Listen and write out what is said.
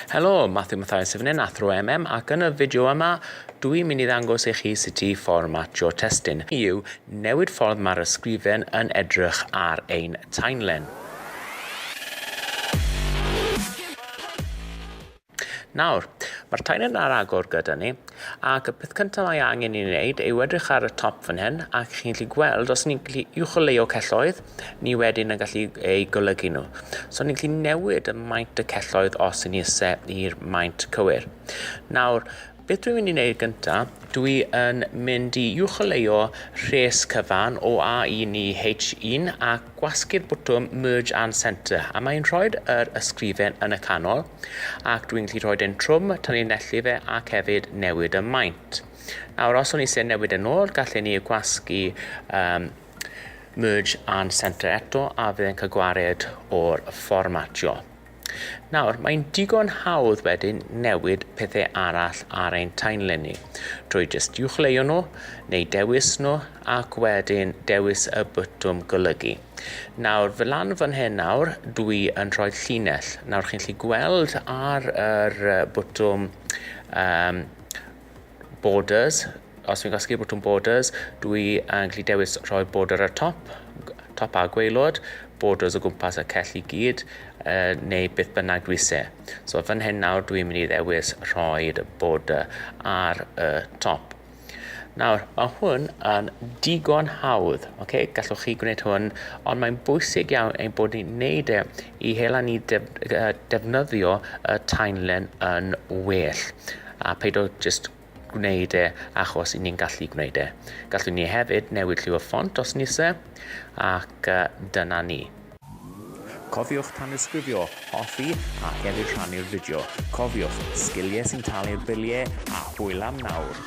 Helo, Matthew Mathias yn fan hyn, athro MM, ac yn y fideo yma, dwi'n mynd i ddangos i chi sut i fformatio testun. Yw newid ffordd mae'r ysgrifen yn edrych ar ein timeline. Nawr, mae'r timeline ar agor gyda ni, ac y peth cyntaf mae angen i ni wneud yw edrych ar y top fan hyn, ac chi'n gallu gweld os ni'n gallu uwcholeuo celloedd, ni wedyn yn gallu eu golygu nhw. So ni'n gallu newid y maint y celloedd os yn ise i'r maint cywir. Nawr, beth dwi'n mynd i wneud gyntaf, dwi yn mynd i uwcholeuo rhes cyfan o A1 i H1 a gwasgu'r bwtwm Merge and Centre, a mae'n rhoi yr ysgrifen yn y canol, ac dwi'n gallu rhoi e'n trwm, tanlinellu fe, ac hefyd newid y maint. Nawr, os o'n i eisiau newid yn ôl, gallen ni gwasgu um, Merge and Centre eto a fydd yn cael gwared o'r fformatio. Nawr, mae'n digon hawdd wedyn newid pethau arall ar ein timeline ni, drwy jyst uwchleuo nhw neu dewis nhw ac wedyn dewis y bwtwm golygu. Nawr, fy lan fan hyn nawr, dwi yn rhoi llinell. Nawr, chi'n lli gweld ar yr bwtwm um, borders, os fi'n casglu botwm borders, dwi yn gallu dewis rhoi border ar top, top a gweilod, borders o gwmpas y cell i gyd, uh, neu beth bynnag dwi se. So fan hyn nawr dwi'n mynd i ddewis rhoi'r border ar y top. Nawr, mae hwn yn digon hawdd, okay? gallwch chi gwneud hwn, ond mae'n bwysig iawn ein bod ni'n neud e i hela ni defnyddio y timeline yn well a paid o just gwneud e achos i ni'n gallu gwneud e. Gallwn ni hefyd newid lliw y ffont os ni se ac dyna ni. Cofiwch tanysgrifio, hoffi ac hefyd rhannu'r fideo. Cofiwch, sgilie sy'n talu'r bilie a hwyl am nawr!